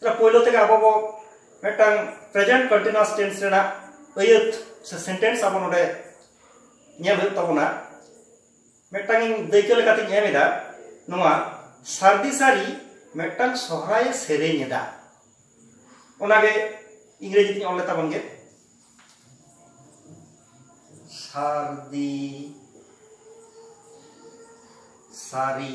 ᱛᱟᱦᱞᱮ ᱯᱳᱭᱞᱳ ᱛᱮᱜᱮ ᱟᱵᱚ ᱵᱚ ᱢᱤᱫᱴᱟᱝ ᱯᱨᱮᱡᱮᱱᱴ ᱠᱚᱱᱴᱤᱱᱩᱣᱟᱥ ᱴᱮᱱᱥ ᱨᱮᱱᱟᱜ ᱟᱹᱭᱟᱹᱛ ᱥᱮ ᱥᱮᱱᱴᱮᱱᱥ ᱟᱵᱚ ᱱᱚᱰᱮ ᱧᱮᱞ ᱦᱩᱭᱩᱜ ᱛᱟᱵᱚᱱᱟ ᱢᱤᱫᱴᱟᱝ ᱤᱧ ᱫᱟᱹᱭᱠᱟᱹ ᱞᱮᱠᱟᱛᱤᱧ ᱮᱢ ᱮᱫᱟ ᱱᱚᱣᱟ ᱥᱟᱨᱫᱤ ᱥᱟᱨᱤ ᱢᱤᱫᱴᱟᱝ ᱥᱚᱦᱨᱟᱭᱮ ᱥᱮᱨᱮᱧ ᱮᱫᱟ ᱚᱱᱟᱜᱮ ᱤᱝᱨᱮᱡᱤ ᱛᱤᱧ ᱚᱞ ᱞᱮ ᱛᱟᱵᱚᱱ ᱜᱮ ᱥᱟᱨᱫᱤ ᱥᱟᱨᱤ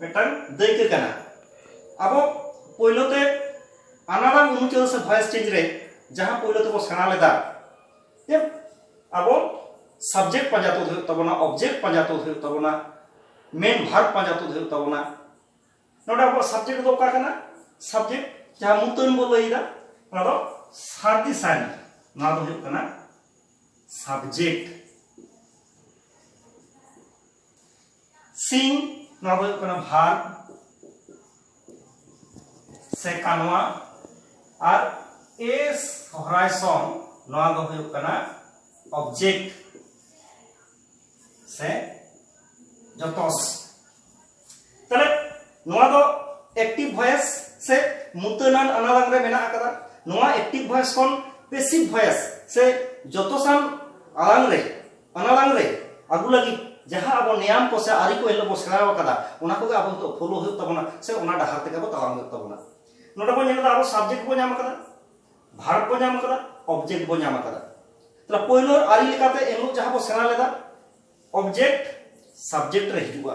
ᱢᱤᱫᱴᱟᱝ ᱫᱟᱹᱭᱠᱟᱹ ᱠᱟᱱᱟ ᱟᱵᱚ ᱯᱳᱭᱞᱳ ᱛᱮ ᱟᱱᱟᱲᱟᱝ ᱩᱱᱩᱪᱟᱹᱨ ᱥᱮ ᱵᱷᱚᱭᱮᱥ ᱪᱮᱧᱡᱽ ᱨᱮ ᱡᱟᱦᱟᱸ ᱯᱳᱭᱞᱳ ᱛᱮᱵᱚ ᱥᱮᱬᱟ ᱞᱮᱫᱟ ᱡᱮ ᱟᱵᱚ ᱥᱟᱵᱡᱮᱠᱴ ᱯᱟᱸᱡᱟ ᱛᱩᱫ ᱦᱩᱭᱩᱜ ᱛᱟᱵᱚᱱᱟ ᱚᱵᱡᱮᱠᱴ ᱯᱟᱸᱡᱟ ᱛᱩᱫ ᱦᱩᱭᱩᱜ ᱛᱟᱵᱚᱱᱟ ᱢᱮᱱ ᱵᱷᱟᱨᱵ ᱯᱟᱸᱡᱟ ᱛᱩᱫ ᱦᱩᱭᱩᱜ ᱛᱟᱵᱚᱱᱟ ᱱᱚᱰᱮ ᱟᱵᱚᱣᱟᱜ ᱥᱟᱵᱡᱮᱠᱴ ᱫᱚ ᱚᱠᱟ ᱠᱟᱱᱟ ᱥᱟᱵᱡᱮᱠᱴ ᱡᱟᱦᱟᱸ ᱢᱩᱛᱟᱹᱱ ᱵᱚ ᱞᱟᱹᱭᱫᱟ ᱚᱱᱟ ᱫᱚ ᱥᱟᱹᱨᱫᱤ ᱥᱟᱹᱨᱤ ᱱᱚᱣᱟ ᱫᱚ ᱦᱩᱭᱩᱜ ᱠᱟᱱᱟ ᱥᱟᱵᱡᱮᱠᱴ ᱥᱤᱝ ᱱᱚᱣᱟ ᱫᱚ ᱦᱩᱭᱩᱜ ᱠᱟᱱᱟ ᱵᱷᱟᱨ ᱥᱮ ᱠᱟᱱᱣᱟ ᱟᱨ ᱮᱥ ᱥᱚᱦᱨᱟᱭ ᱥᱚᱝ ᱱᱚᱣᱟ ᱫᱚ ᱦᱩᱭᱩᱜ ᱠᱟᱱᱟ ᱚᱵᱡᱮᱠᱴ ᱥᱮ ᱡᱚᱛᱚᱥ ᱛᱟᱦᱞᱮ ᱱᱚᱣᱟ ᱫᱚ ᱮᱠᱴᱤᱵ ᱵᱷᱚᱭᱮᱥ ᱥᱮ ᱢᱩᱛᱟᱹᱱᱟᱱ ᱟᱱᱟᱞᱟᱝ ᱨᱮ ᱢᱮᱱᱟᱜ ᱟᱠᱟᱫᱟ ᱱᱚᱣᱟ ᱮᱠᱴᱤᱵ ᱵᱷᱚᱭᱮᱥ ᱠᱷᱚᱱ ᱯᱮᱥᱤᱵ ᱵᱷᱚᱭᱮᱥ ᱥᱮ ᱡᱚᱛᱚᱥᱟᱱ ᱟᱞᱟᱝ ᱨᱮ ᱯᱟᱱᱟᱲᱟᱝ ᱨᱮ ᱟᱹᱜᱩ ᱞᱟᱹᱜᱤᱫ ᱡᱟᱦᱟᱸ ᱟᱵᱚ ᱱᱮᱭᱟᱢ ᱠᱚ ᱥᱮ ᱟᱹᱨᱤ ᱠᱚ ᱮᱱᱦᱤᱞᱳᱜ ᱵᱚ ᱥᱮᱬᱟ ᱟᱠᱟᱫᱟ ᱚᱱᱟ ᱠᱚᱜᱮ ᱟᱵᱚ ᱱᱤᱛᱚᱜ ᱯᱷᱳᱞᱳ ᱦᱩᱭᱩᱜ ᱛᱟᱵᱚᱱᱟ ᱥᱮ ᱚᱱᱟ ᱰᱟᱦᱟᱨ ᱛᱮᱜᱮ ᱟᱵᱚ ᱛᱟᱲᱟᱢ ᱦᱩᱭᱩᱜ ᱛᱟᱵᱚᱱᱟ ᱱᱚᱰᱮ ᱵᱚ ᱧᱮᱞ ᱮᱫᱟ ᱟᱵᱚ ᱥᱟᱵᱡᱮᱠᱴ ᱵᱚ ᱧᱟᱢ ᱟᱠᱟᱫᱟ ᱵᱷᱟᱨᱵ ᱵᱚ ᱧᱟᱢ ᱟᱠᱟᱫᱟ ᱚᱵᱡᱮᱠᱴ ᱵᱚ ᱧᱟᱢ ᱟᱠᱟᱫᱟ ᱛᱟᱦᱞᱮ ᱯᱳᱭᱞᱳ ᱟᱹᱨᱤ ᱞᱮᱠᱟᱛᱮ ᱮᱱᱦᱤᱞᱳᱜ ᱡᱟᱦᱟᱸ ᱵᱚ ᱥᱮᱬᱟ ᱞᱮᱫᱟ ᱚᱵᱡᱮᱠᱴ ᱥᱟᱵᱡᱮᱠᱴ ᱨᱮ ᱦᱤᱡᱩᱜᱼᱟ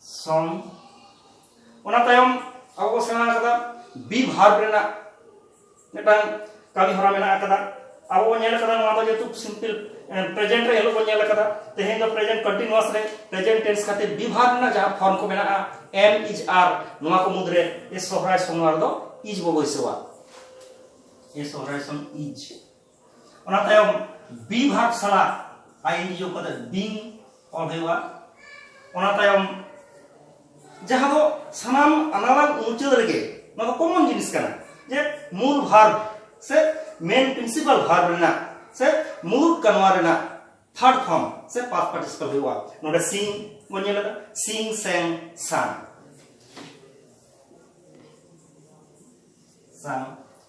ᱥᱚᱢ ᱚᱱᱟ ᱛᱟᱭᱚᱢ ᱟᱵᱚ ᱵᱚ ᱥᱮᱬᱟ ᱟᱠᱟᱫᱟ ᱵᱤ ᱵᱷᱟᱨᱵ ᱨᱮᱱᱟᱜ ᱢᱤᱫᱴᱟᱝ ᱠᱟᱹᱢᱤ ᱦᱚᱨᱟ ᱢᱮᱱᱟᱜ ᱟᱠᱟᱫᱟ ᱟᱵᱚ ᱵᱚ ᱧᱮᱞ ᱟᱠᱟᱫᱟ ᱱᱚᱣᱟ ᱫᱚ ᱡᱮᱦᱮᱛᱩ ᱥᱤᱢᱯᱤᱞ ᱯᱨᱮᱡᱮᱱᱴ ᱨᱮ ᱦᱤᱞᱳᱜ ᱵᱚ ᱧᱮᱞ ᱟᱠᱟᱫᱟ ᱛᱮᱦᱮᱧ ᱫᱚ ᱯᱨᱮᱡᱮᱱᱴ ᱠᱚᱱᱴᱤᱱᱩᱣᱟᱥ ᱨᱮ ᱯᱨᱮᱡᱮᱱᱴ ᱴᱮᱱᱥ ᱠᱷᱟᱹᱛᱤᱨ ᱵᱤ ᱵᱷᱟᱨᱵ ᱨᱮᱱᱟᱜ ᱡᱟᱦᱟᱸ ᱯᱷᱚᱨᱢ ᱠᱚ ᱢᱮᱱᱟᱜᱼᱟ ᱮᱢ ᱤᱡ ᱟᱨ ᱱᱚᱣᱟ ᱠᱚ ᱢᱩᱫᱽᱨᱮ ᱮ ᱥᱚᱦᱨᱟᱭ ᱥᱚᱢᱚᱭ ᱨᱮᱫᱚ ᱤᱡ ᱵᱚ ᱵᱟᱹᱭᱥᱟᱹᱣᱟ ᱮ ᱥᱚᱦᱨᱟᱭ ᱥᱚᱢ ᱤᱡ ᱚᱱᱟ ᱛᱟᱭᱚᱢ ᱵᱤ ᱵᱷᱟᱜᱽ ᱥᱟᱞᱟᱜ ᱟᱭᱤᱱ ᱡᱤᱭᱳ ᱠᱟᱛᱮ ᱵᱤᱝ ᱚᱞ ᱦᱩᱭᱩᱜᱼᱟ ᱚᱱᱟ ᱛᱟᱭᱚᱢ ᱡᱟᱦᱟᱸ ᱫᱚ ᱥᱟᱱᱟᱢ ᱟᱱᱟᱞᱟᱝ ᱢᱩᱪᱟᱹᱫ ᱨᱮᱜᱮ ᱱᱚᱣᱟ ᱫᱚ ᱠᱚᱢᱚᱱ ᱡᱤᱱᱤᱥ ᱠᱟᱱᱟ ᱡᱮ ᱢᱩᱞ ᱵᱷᱟᱨᱵ ᱥᱮ ᱢᱮᱱ ᱯᱨᱤᱱᱥᱤᱯᱟᱞ ᱵᱷᱟᱨᱵ ᱨᱮᱱᱟᱜ ᱥᱮ ᱢᱩᱬᱩᱛ ᱠᱟᱱᱣᱟ ᱨᱮᱱᱟᱜ ᱛᱷᱟᱨᱰ ᱯᱷᱚᱨᱢ ᱥᱮ ᱯᱟᱥ ᱯᱟᱨᱴᱤᱥᱤᱯᱟᱞ ᱦᱩᱭᱩᱜᱼᱟ ᱱᱚᱰᱮ ᱥᱤᱝ ᱵᱚᱱ ᱧᱮᱞ ᱮᱫᱟ ᱥᱤᱝ ᱥᱮᱝ ᱥᱟᱝ ᱥᱟᱝ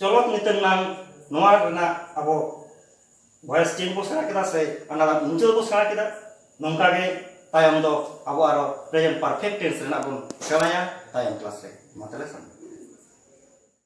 ᱪᱚᱞᱚᱛ ᱧᱩᱛᱩᱢ ᱨᱮᱱᱟᱜ ᱱᱚᱣᱟ ᱨᱮᱱᱟᱜ ᱟᱵᱚ ᱵᱷᱚᱭᱮᱥ ᱴᱤᱢ ᱠᱚ ᱥᱮᱬᱟ ᱠᱮᱫᱟ ᱥᱮ ᱚᱱᱟ ᱢᱩᱪᱟᱹᱫ ᱵᱚ ᱥᱮᱬᱟ ᱠᱮᱫᱟ ᱱᱚᱝᱠᱟ ᱜᱮ ᱛᱟᱭᱚᱢ ᱫᱚ ᱟᱵᱚ ᱟᱨᱚ ᱯᱨᱮᱡᱮᱱᱴ ᱯᱟᱨᱯᱷᱮᱠᱴ ᱴᱮᱱᱥ ᱨᱮᱱᱟᱜ ᱵᱚᱱ ᱥᱮᱬᱟᱭᱟ ᱛᱟᱭᱚᱢ ᱠᱞᱟᱥ ᱨᱮ ᱢᱟ ᱛᱟᱦᱞᱮ ᱥᱟᱱᱟᱢ